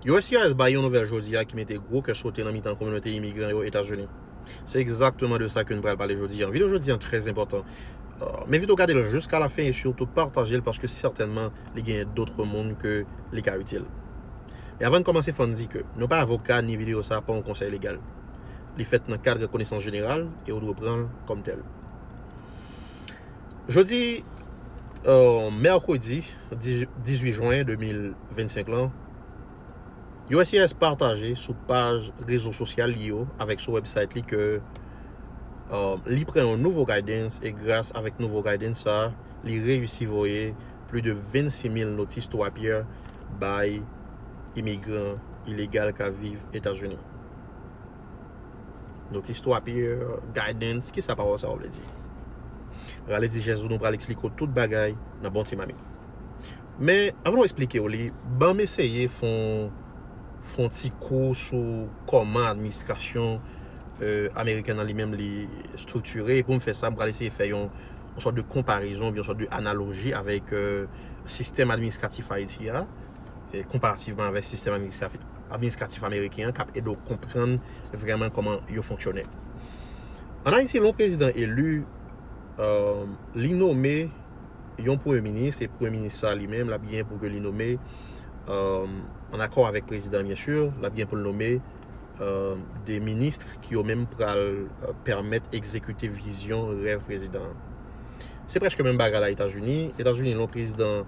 USCIS bay yon nouvèl jodi a ki mete gwo kè sote nan mitan kominote imigran yo Etazini. Se egzakteman de sa ke n pral pale jodi a. Video jodi an trè enpòtan. M envite w gade l jiska la fen e sitou pataje l paske sètènman li genyen dotre moun ke li ka itil. Men avan n kòmanse fò n di ke nou pa avoka ni video sa a pa yon konsèy legal. Li fèt nan kad konesans jeneral e ou dwe pran l kòm tèl. Jodi mèkredi. 18 jwen 2025 lan, uscis pataje sou paj rezo sosyal li yo avèk sou website li ke li pran yon nouvo guidance e gras avèk nouvo guidance sa li reyisi voye pli de 26 mil notis twa pyè bay imigran ilegal kap viv Etazini. Notice to appear, Guidance, Kisa pawòl sa yo vle di? Rale dijès ou nou pral eksplike ou tout bagay nan bon ti mamit. Men, anvan nou eksplike ou li, banm eseye fon fon ti kou sou kòman administrasyon ameriken nan li menm li striktire. Poum fè sa, m pral eseye fè yon sòt de konparezon oubyen yon sòt de analoji avèk sistèm administratif Ayiti a. konparativman avèk sistèm administratif ameriken an k ap ede w konprann vrèman kòman yo fonksyone. An Ayiti, lè yon prezidan eli, li nome yon premye minis, e premye minis sa li menm l ap genyen pou ke li nome, an akò avèk prezidan byen si, l ap genyen pou l nome de ministre ki yo menm pral pèmèt egzekite vizyon, rèv prezidan an. Se prèske menm bagay la Etazini. Etazini, lè yon prezidan.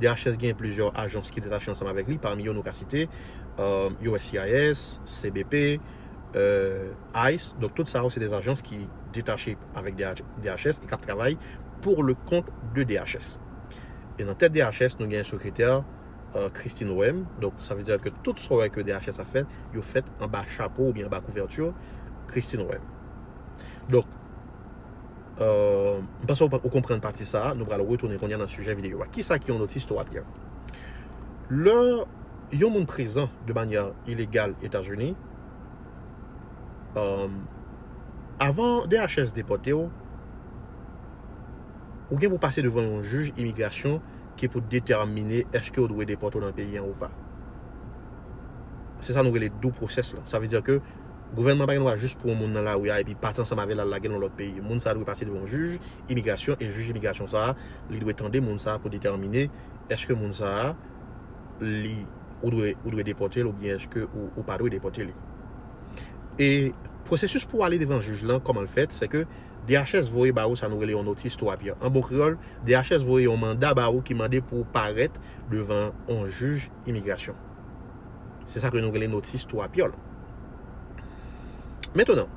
DHS genyen plizyè ajans ki detache ansanm avèk li, pami yo nou ka site, uscis, cbp, ice, donk tout sa yo se de ajans ki detache avèk DHS e k ap travay pour le compte de DHS. E nan tèt DHS nou genyen sekretè Christine Roem, donk sa vle di ke tout sa w wè ke DHS ap fè, yo fèt anba chapo oubyen anba kouvèti Christine Roem. Donk. M panse ou konprann pati sa a. Nou pral retounen kounye a nan sijè videyo a. Kisa ki yon notise to a byen? Lè yon moun prezan de manyè ilegal Etazini, avan DHS depòte ou, ou gen pou pase devan yon jij imigrasyon ki pou detèmine èske yo dwe depòte ou nan peyi an ou pa. Se sa nou rele due process la. Sa vle di ke. Gouvènman an pa gen dwa jis pran yon moun nan lari a epi pati ansanm avè l al lage l nan lòt peyi. Moun sa a dwe pase devan yon jij imigrasyon e jij imigrasyon sa a li dwe tande moun sa a pou detèmine èske moun sa a li ou dwe ou dwe depòte l oubyen èske ou pa dwe depòte li. E pwosesis pou ale devan jij lan kòman l fèt sèke DHS voye ba ou sa nou rele yon notice to appear. An bon kreyòl DHS voye yon manda ba ou ki mande pou ou parèt devan yon jij imigrasyon. Se sa ke nou rele notis twa pyol. Metenan,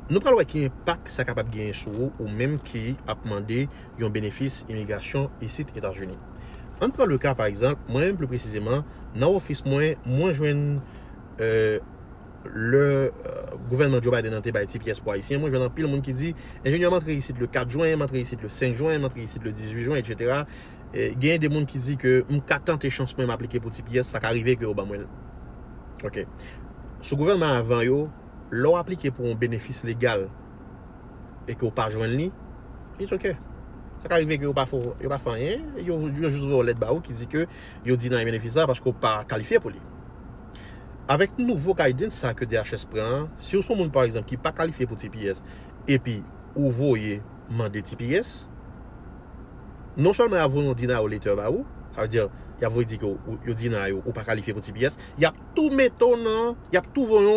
nou pral wè ki enpak sa kapab genyen sou ou, ou menm ki ap mande yon benefis imigrasyon isit Etazini. Ann pran le ka pa egzanp, mwen menm pli presizeman, nan ofis mwen, mwen jwenn lè gouvènman Joe Biden nan te bay ti pyès pou Ayisyen, mwen jwenn anpil moun ki di, enjenyè m antre isit le 4 jwen, m antre isit le 5 jwen, m antre isit le 18 jwen, etc. Genyen de moun ki di ke m ka tante chans mwen m aplike pou ti pyès, sa ka rive ke yo ban mwen l. Ok. Sou gouvènman avan yo, lè w aplike pou yon benefis legal e ke w pa jwenn li, it's ok. Sa ka rive ke yo pa fè w, yo pa fè w anyen, yo jis voye yon lèt ba ou ki di ke yo deny benefis sa paske w pa kalifye pou li. Avèk nouvo guidance sa ke DHS pran an, si w se yon moun pa egzanp ki pa kalifye pou ti pyès epi ou voye mande ti pyès, non sèlman yap voye yon denial letter ba ou, sa vle di yap voye di ke yo deny ou, ou pa kalifye pou tps, yap tou mete w nan, yap tou voye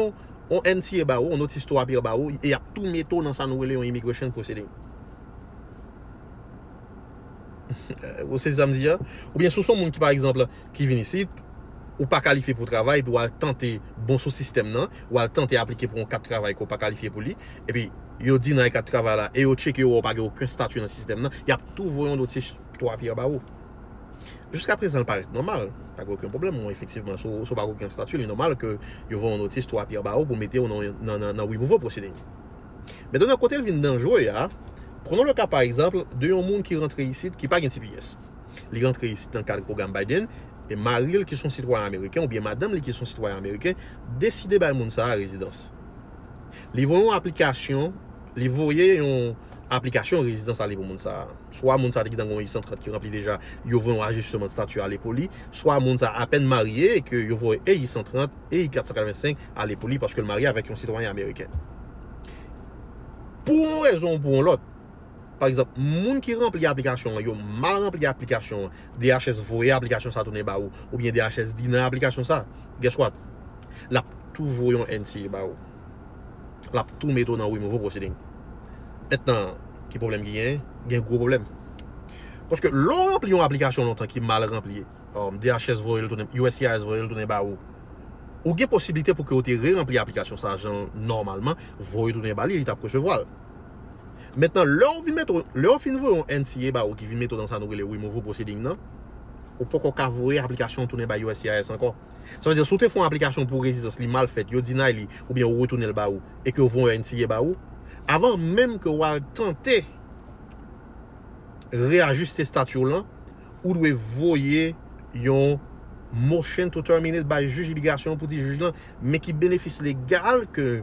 yon NTA ba ou, yon notice to appear ba ou, e yap tou mete w nan sa nou rele yon immigration proceeding. Ou sezi sa m di a? Oubyen si w se yon moun ki pa egzanp ki vin isit, ou pa kalifye pou travay epi wal tante bon sou sistèm nan, wal tante aplike pou yon kat travay ke w pa kalifye pou li, epi yo deny kat travay la e yo tcheke yo wè ou pa gen oken stati nan sistèm nan, yap tou voye yon dotye twa pyè ba ou. Jiska prezan li parèt nòmal, pa gen oken pwoblèm, bon efektivman si w pa gen oken stati li nòmal ke yo voye yon notise twa pyè ba ou pou mete ou nan removal proceeding. Mentènan kote l vin danjre a, prenons le cas par exemple de yon moun ki rantre isit ki pa gen tps. Li rantre isit nan kad pwogram Biden, e mari l ki s on sitwayen ameriken oubyen madanm li ki s on sitwayen ameriken deside bay moun sa a rezidans. Li voye yon aplikasyon, li voye yon aplikasyon rezidans ale pou moun sa a. Swa moun sa a te gentan gen yon I-130 ki ranpli deja, yo voye yon ajisteman stati ale pou li, swa moun sa a apèn marye e ke yo voye e I-130 e I-485 ale pou li paske l marye avèk yon sitwayen ameriken. Pou yon rezon ou pou yon lòt, pa egzanp moun ki ranpli aplikasyon an yo mal ranpli aplikasyon an DHS voye aplikasyon sa tounen ba ou oubyen DHS di nan aplikasyon sa guess what lap tou voye yon NTA ba ou lap tou mete w nan removal proceeding mentnan ki pwoblèm ki genyen gen gwo pwoblèm paske lè w ranpli yon aplikasyon lontan ki mal ranpli DHS voye l tounen uscis voye l tounen ba ou ou gen posiblite pou ke ou te re ranpli aplikasyon sa jan nòmalman voye tounen ba li li tap resevwa l. Mentnan lè ou vin mete, lè yo fin voye yon NTA ba ou ki vin mete ou nan sa nou rele removal proceeding nan, ou poko ka voye aplikasyon an tounen bay uscis ankò. Sa vle di si ou te fè yon aplikasyon pou rezidans li mal fèt, yo deny li oubyen yo retounen l ba ou e ke yo voye yon NTA ba ou, avan menm ke ou al tante reajiste stati w lan, ou dwe voye yon motion to terminate bay jij imigrasyon an pou di jij lan men ki benefis legal ke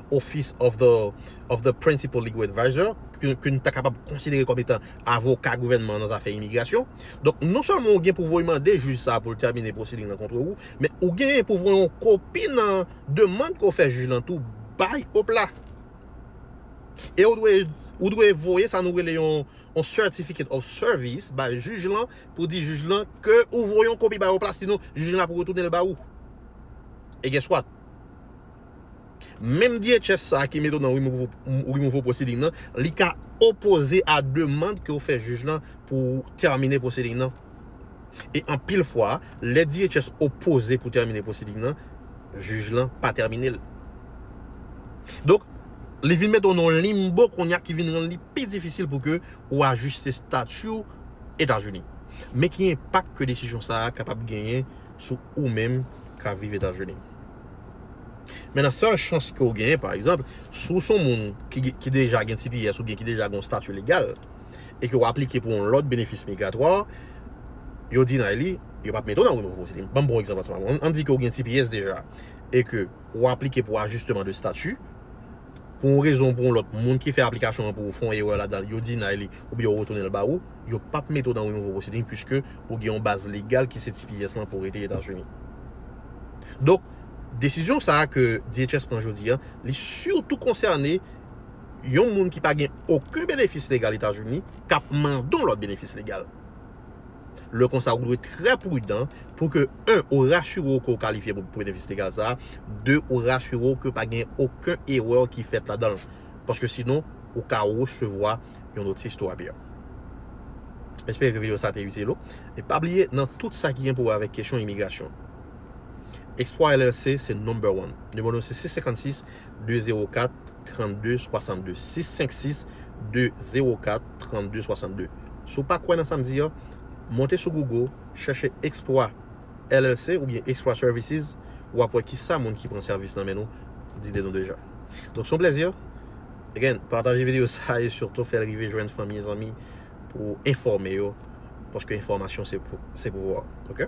Office of the of the Principal Legal Adviser, ke nou ta kapab konsidere kòm etan avoka gouvènman an nan zafè imigrasyon. Donk, non sèlman ou gen pouvwa ou mande jij sa a pou l tèmine pwosedi lan kontre ou, men ou genyen pou voye yon kopi nan demand ke w fè jij lan tou bay OPLA. E ou dwe ou dwe voye sa nou rele yon yon Certificate of Service bay jij lan pou di jij lan ke ou voye yon kopi bay OPLA sinon jij lan ap retounen l ba ou. E gen swat. Menm DHS sa a ki mete w nan removal proceeding nan, li ka opoze a demand ke w fè jij lan pou w tèmine proceeding nan. E anpil fwa, lè DHS opoze pou tèmine proceeding nan, jij lan pa tèmine l. Donk, li vin mete w nan yon limbo kounye a ki vin rann li pi difisil pou ke ou ajiste stati w Etazini. Men ki enpak ke desizyon sa a kapab genyen sou ou menm k ap viv Etazini. Menan sèl chans ke ou genyen, pa egzanp, si ou se yon moun ki deja gen tps oubyen ki deja gen yon stati legal e ke ou aplike pou yon lòt benefis migratwa, yo deny li, yo pa p mete ou nan Renouveau Citizenship. Ban m pran yon egzanp ansanm avè ou. An n di ke ou gen tps deja e ke ou aplike pou ajisteman de stati. pou yon rezon ou pou yon lòt, moun ki fè aplikasyon an pou ou fè yon erè ladan l, yo deny li oubyen yo retounen l ba ou, yo pap mete w nan yon nouvo pwoseding puiske ou gen yon baz legal ki se tps lan pou rete Etazini. Donk, desizyon sa a ke DHS pran jodi a, li sitou konsène yon moun ki pa gen oken benefis legal Etazini kap mande yon lòt benefis legal. Lè konsa ou dwe trè prudan pou ke 1 ou rasire w ke ou kalifye pou benefis legal sa a, 2 ou rasire w ke pa gen oken erè ki fèt ladan l. Paske sinon ou ka resevwa yon notis tou apè. Espere ke video sa te itil ou. E pa bliye nan tout sa ki gen pou wè avèk kesyon imigrasyon, Explore LLC se number one. Nimewo nou se 656. 204 32 62 656 204 32 62 Si w pa kwè nan sa m di a, monte sou Google chèche Explwa LLC oubyen Explwa Services w ap wè kisa moun ki pran sèvis nan men nou di de nou deja. Donk se yon plezi again pataje videyo sa a e sitou fè l rive jwenn fanmi e zanmi pou w enfòme yo paske enfòmasyon se pouvwa ok.